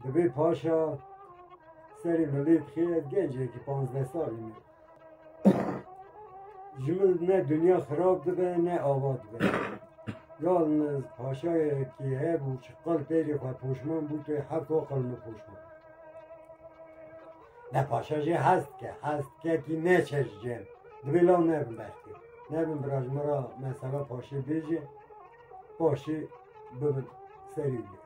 Divê paşa serê milê dixê ez gencekî panzdeh salî me. Ji min ne dinya xirab dibe ne ava dibe. Yan paşayekî hebû çi qal pêrê xwe poşman bû tu hefta qal min poşman. Ne paşa jê hez dike, hez dike kî neçe ji cem. Divê law nebin bertê. Nebin bira ji min ra mesela paşê bêjê, paşê bibin serî wî.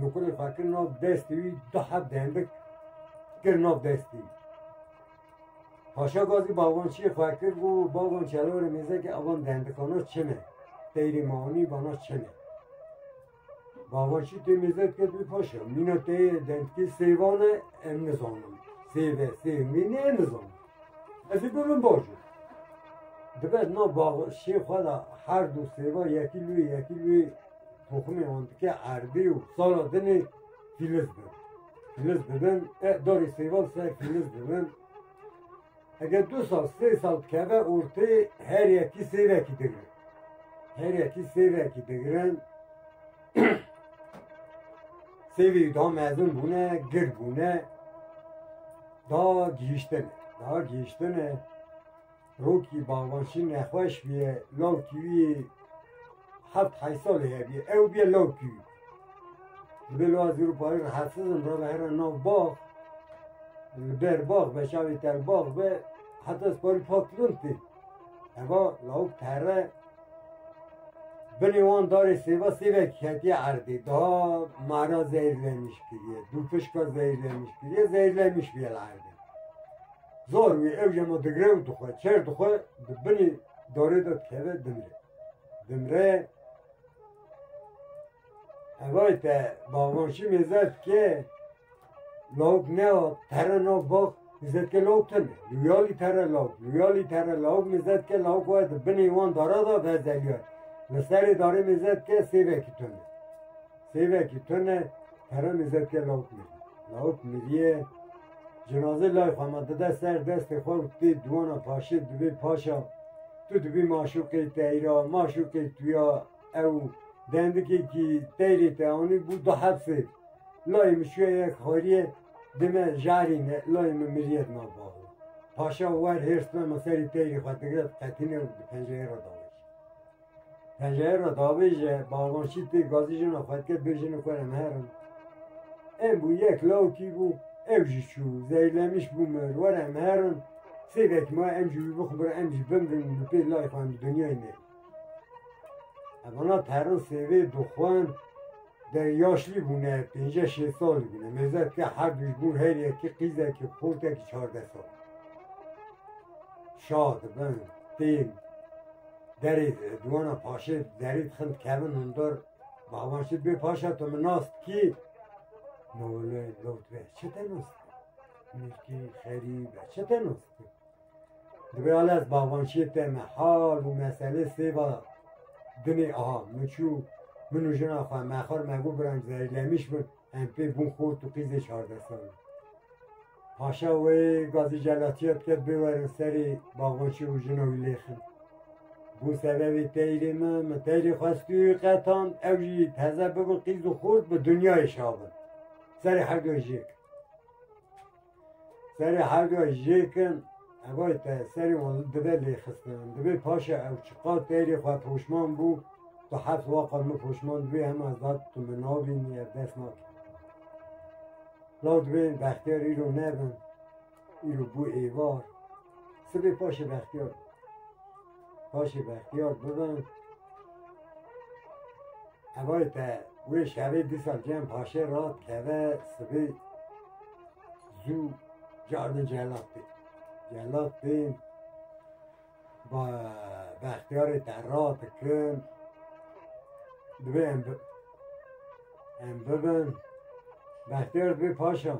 Nuqulê xwe kir nav destê wî, du heb dendik kir nav destê wî. Paşa Gazî bavançiyê xwe kir û bavan çelorê mêzekê avan dendikana çin e. Teyrê me anî bana çin e. Bavançî tê mêzek ket wî paşa. Mîna teyê dendikê sêvan e em nizanin. Sêve, sêvmîn e em nizanin. Ez ê bibim baş o. Dibe nav bavançiyê xwe de her du sêva yekî lûyê yekî lûyê Toxumê wan dike erdî û sala dinê fîliz bin. Fîliz dibin, e darê sêvan ser fîliz dibin. Eger du sal, sê sal dikeve ortê her yekî sêvekî digirin. Her yekî sêvekî digirin. Sêvî da mezin bûne, gir bûne. Da gihiştine. Da gihiştine. Rokî Bagbaşî nexweş bûye, lawkî wî heft heyş salî hebûye, ew bûye lawkî wî. Li ber wa zûr û parî rahetsiz im, rabe here nav bax, li ber bax be, çavê tel bax be, heta ez parî pak kirin tê. Heva lawik terre binê wan darê sêva sêvek hetiye erdê, daha mara zehîrlenîş kiriye, dû fişka zehîrlenîş kiriye, zehîrlenîş bûye li erdê. Zor wî ew jemo digre û dixwe, çer dixwe di binî dorê de dikeve dimre. Dimre evay te bavanşî mêze ke lawik ne tere nav bax mizet ke lawik teme. Luyalî tere lawik, luyalî tere lawik mizet ke lawik we di binî wan dara da vezeliyar. Li serê darê mizet ke sêvekî teme. Sêvekî tune Keremê Zevkê Lauk Mirî. Lauk Mirîyê cinazê lay xwe ma dide ser destê xwe û tê dûwana paşê dibê Paşa tu dibî maşûqê teyra, maşûqê tuya ew dendikekî teyrê te anî bû du heft sêv. Layê min çûye yek xarîyê dê me jarî ne layê min mirîye di nav bav e. Paşa wer hêrs bima serî teyrê xwe digre diqetîne û di pencereyê re dawêje. Pencereyê davêje balonçî pê gazî jina xwe dike bê jinê xwe re em herin. Em bû yek lawikî bû ew jî çû zeylemiş bû mir were em herin sê vekî ma em jî wî bixubir em jî bimrin li pê layê xwe em bi dinyayê me. Evana perin sêvê dixwin de yaşlî bûne pênce şêst salî bûne mêzet ke her duj bû her yekî qîzekî xortekî çardeh sal. Şa dibin tên Derê diwana paşê derê dixin dikevin hundar bawan şî bê paşa tu min nas dikî no wele law tu be çi te nas dikî mîrkî xerî be çi te nas dikî dibe ala ez bawan şê te me hal û mesele sêva dinê aha min çû min û jina xwe me xar me gû biranc zerîlemiş bin Em pê bûn xwe û tu qîzê çardeh sal in. Paşa wê gazî celatiya dike bê werin serê Baxbaçî û jina wî lêxin. Bû sebebê teyrê min, min teyrê xwestûyî qetan, ew jî teze bibin qîz û xort bi dinyayê şabin. Serê herdûyê jêk. Serê hewca jêkin evay te serê wan li dibe lê xistin. Divê paşa ew çiqa têrê xwe poşman bû, tu heft waqa min poşman divê hema zat tu min nabînî ev dest nake. Law divê bextiyar îro nebin, îro bû êvar. Sibê paşê bextiyar. Paşê bextiyar bibin. Evay te wê şevê dîsa cem paşê ra teve sibê zû cardin celat bê. Celat bê ba bextiyarê te ra dikin divê em bi em bibin. Bextiyar bê paşa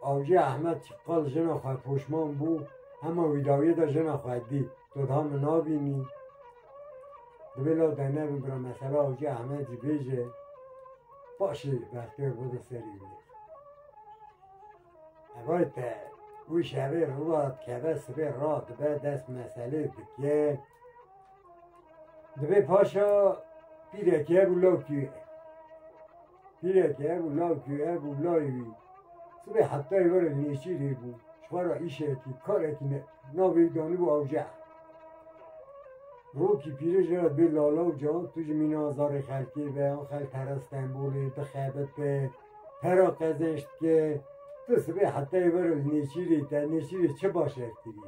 Avcı Ahmet qal jina xwe poşman bû, hema wî dawiyê de jina xwe dî. Tu daha min nabînî. Divê la de nebin bira mesela Avcı Ahmet jî bêje paşê bertêr bido serî wî. Evay te wî şevê rûva dikeve sibê ra dibe dest meselê dike. Divê paşa pîrekê bû lewkî Hînekî hebû lawikî wî hebû layê wî. Sibê heftayî were nêçîrê bû. Ji xwe re îşekî, karekî ne. Navê wî danibû Awceh. Rokî pîrê ji re bê lala û ca, tu ji mîna zarê xelkê be, axel pere Stenbolê, dixebite, pera qezenç dike. Tu sibê heftayî were li nêçîrê te, nêçîrê çi baş ev kirî?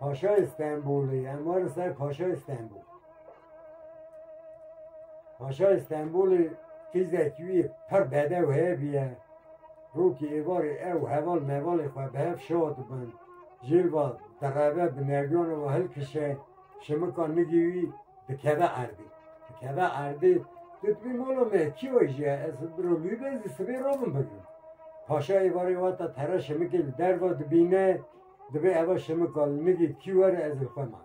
Paşayê Stenbolê em warin ser Paşayê Stenbol. Paşayê Stenbolê tîzekî wî pir bedew heye bîye. Rokî êvarê ew heval mevalê xwe bi hev şa dibin. Jêl va direve bi nergiyana we hilkişe şimika nigî wî dikeve erdê. Dikeve erdê dibî mola me kî we jî ye ez biro lû bezî sibê robin bigirim. Paşa êvarê wata tere şimikê li derva dibîne Divê eva şimika li nigê kî were ez li xwe ma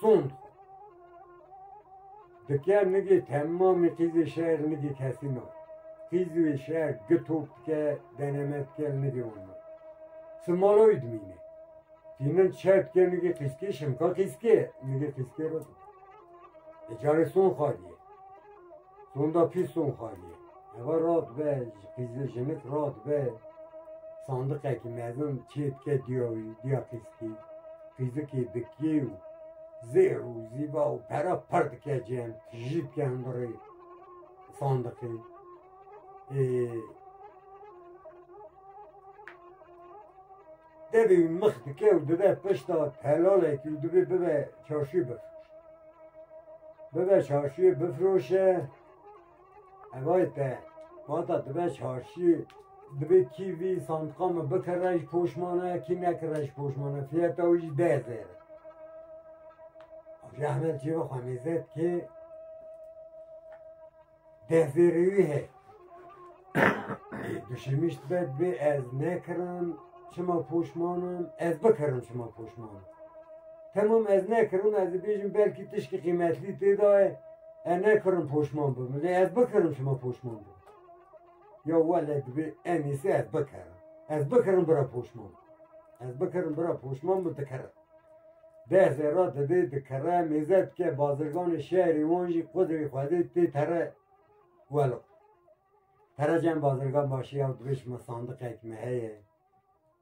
sond xwe. Dike nigê temamê qîzê şer nigê kesî ma. Qîzê wê şer gitop dike deneme dike li nigê wan ma. Simala wî dimîne. Tînin çer dike nigê qîzkê şimika qîzkê nigê qîzkê re. E carê son xaliye. Sonda pîston xaliye. Eva rat be, qîzê jinik rat be. Sandıqekî mezin çêtke diya wî, diya qîzkî. Qîzikî dikî û zêr û zîba û pera per dike cem, tijî dike hundirê sandıqê. Ê, Tevî mix dike û dibe pişta telalekî û divê bibe çarşî bif. Bibe çarşîyê bifroşe evayê te vata dibe çarşî divê kî vî santika min bikire ji poşmane kî nekire ji poşmane fiyeta wî jî deh zêr e. Ji Ehmed Cîva Xemîzet kê Dehvêrêwî heye. Duşemişt be dibê ez nekirin çima poşmanim ez bikirin çima poşmanim. Temam ez nekirin ez dibêjim belkî tişkî qîmetlî têda ye e nekirin poşman bim. Lê ez bikirin çima poşman bim. Ya wele dibê en iyisi ez bikirin. Ez bikirin bira poşman. Ez bikirin bira poşman bi dikirin. Deh zêra didê dikere, mêze dike, bazirganê şerî wan jî qudrê xwedê tê tere welo. Tere cem bazirgan başî ew dibê şima sandiqek me heye,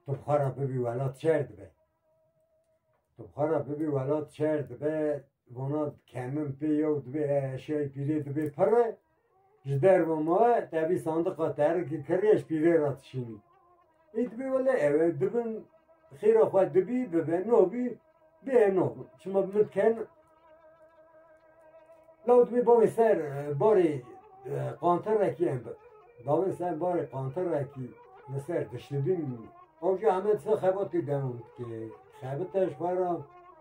tu bi xwe re bibî wela tu şer dibe. Tu bi xwe re bibî wela tu şer dibe, vana kemin pê yew dibê eşyayê pîlê dibê pirre, Ji derve ma tevî sandiqa terikê kiriyê ji pîlê re dişînî. Dibê wele ew e dibin xêra xwe dibî bibe no bî bê no çima min diken law dibê bavê ser barê qantirekî em bi. Bavê ser barê qantirekî li ser dişibîn. Ew jî heme disa xebatê devam dike. Xebite ji xwe re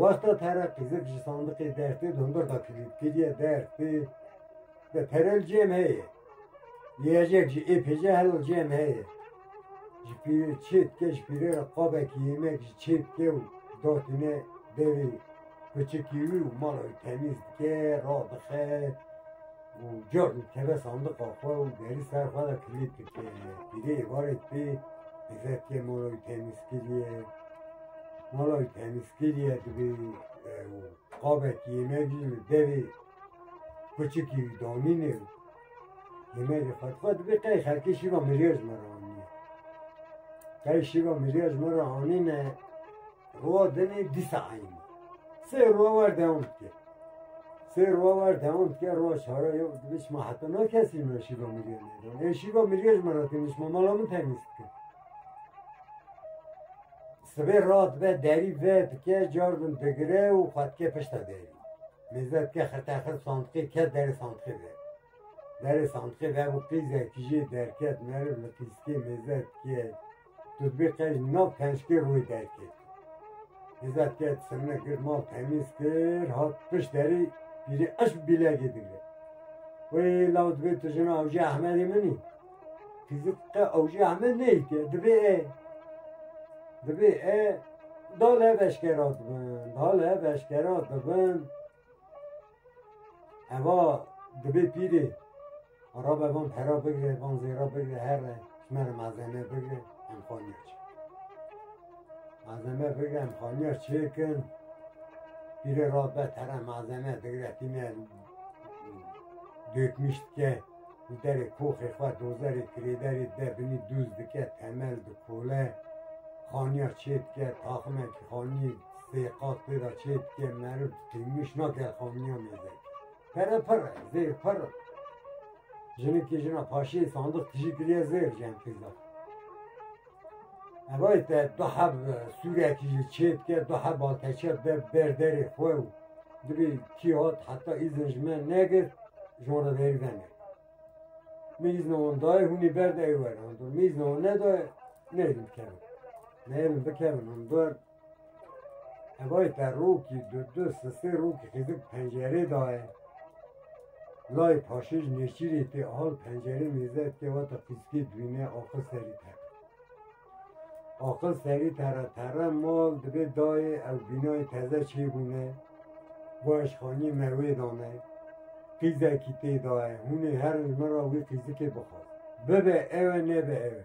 Wexta pere qîzek ji sandiqê dertê di hundir de kiriye dertê de perel cêm heye. Yiyecek ji ê pêje hel cêm heye. Ji pîrê çê dike ji pîrê re qabekî yemek ji çê dike û datîne devê biçikî wî û mala wî temîz dike radixe. û cihê ku dikeve sandiqa xwe û derî ser xwe de kilît dike. Pîrê êvarê dibê hêzekê mala wî temîz kiriye. Mala wî temîz kiriye dibê û qabekî yemek jî li devê biçikî wî danîne û yemekê xwe dixwe dibê qey xelkê şîva mirêya ji me re anîne. Qey şîva mirêya ji me re anîne Rova demê dî saeyî ma. Sê rova wer dewam dike. Sê rova wer dewam dike rova şara yo dibiş ma heta na kesî me şîva mirîyê nêdan. Ê şîva mirîyê ji me re têniş ma mala min temîz bike. Sibê ra dibe derî ve dike car bin digire û xwe dike pişta derî. Mêze dike xirte xir sandiqê ke derê sandiqê ve. Derê sandiqê ve bû pîzekî jê derket meriv li pîskê mêze dike Tuzbê qey no pençkê rûyê derkê. Hêza tê semine gir mal temîz kir hat pişt derî pîrê eş bîlegê digre. Wê law dibê tu jina Awcê Ehmedê min î. Kizit qe Awcê Ehmed neyê ke dibê e. Dibê e dal ev eşkera dibin, dal ev eşkera dibin. Eva dibê pîrê rabe van pera bigre van zêra bigre her re me re malzeme bigre em xaniya çi. Malzeme bigre em xaniya çêkin pîrê rabe tera malzeme digre tîne dökmüş dike û derê koxê xwe dozerê kirêderê de binî dûz dike temel dikole xaniya çê dike taximekî xaniyê Sê qat pê re çê dike meriv qîmiş nake xamniya mêze. Pere pir e, zêr pir e. Jinikê jina paşê sandiq tijî kiriye zêr jeng têza. Evay te du heb sûrekî jî çê dike du heb alteçe be ber derê xwe û dibê kî hat heta îzin ji me negir jon re verî venê. Min îzna wan dayê hûnê ber de ewere. Min îzna wan nedaye neyrin bikevin. Neyrin bikevin hûn ber Evay te rokî du du si sê rokî xêzib pencerê daye. Lay paşêj nêçîrê tê al pencerê mêze tê wata fîzikê dwîne axil serî ter. Axil serî tera tera mal dibê dayê ew bînayê teze çêbûne bo eşxanî me wê dane. Qîzekî tê daye hûnê herin min ra wî fîzikê bixwe. Bibe ewe nebe ewe.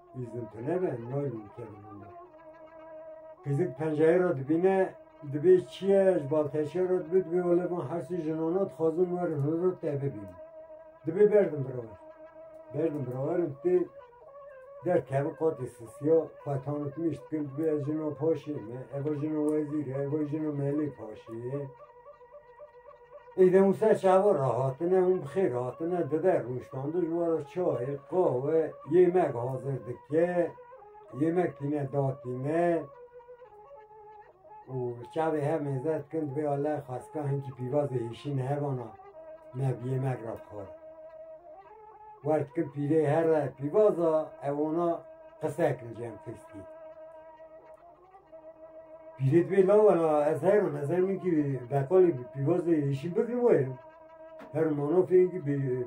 Îzin tu nebe nayê min kevin hûna. Kizîk penceyê ra dibîne dibê çiye ji balteşê ra dibê dibê wele van hersî jinona dixwazin werin hûn ra te bibînin. Dibê berdim birawer. Berdim birawerim tê derkevin qatê sisiya xwetanê tu mişt kin dibê ez jino paşê me, eva jino wezîr e, eva jino melê paşê ye. Îde Mûsa çawa re hatine hûn bi xêr hatine dibe rûştande ji we re çayê qawe yêmek hazir dike yêmek tîne datîne û çavê hev mêze dikin divê aleh xasika hincî pîvazê hêşîn hevana me bi yêmek re bixwar wer dikin pîrê here pîvaza ew ona qise kirin cem fiskî Pîrê divê lawa la ez her im ez her im kî beqalê pîvazê yeşîl bigirim werim. Her manofê kî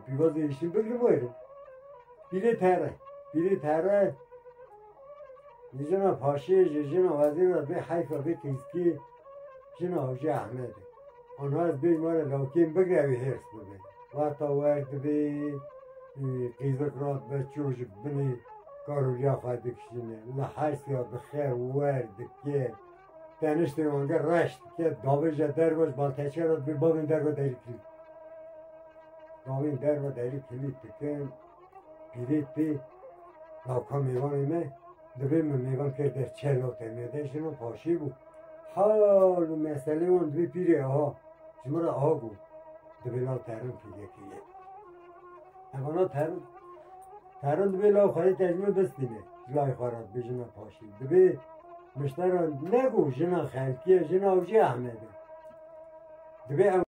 pîvazê yeşîl bigirim werim. Pîrê tere. Pîrê tere jina paşê jina wezîra bê heyfa bê têskî jina Hacî Ahmedê. Onas bê mara lawkên bigre wî hêrs bibe. Wata wer dibê qîzek rat be çû ji binê karûliya xwe dikişîne. Li hersiya dixe wer dike. Teniştê wange reş dike davêje derbaş balteçe rat bê bavên derve derî kilît. Bavên derve derî kilît dikin. Pîrê pê lawka mêvanê me divê min mêvan kê der çelo te me de jino paşî bû. Hal û meselê wan divê pîrê aha ji min re aha bû. Divê law terin pîrê pîrê. Evana terin terin divê law xerê tecmê bistîne. Lay xera divê jina paşî. Divê miştera ne bû jina xelkiye jina avcê Ahmed'e. Divê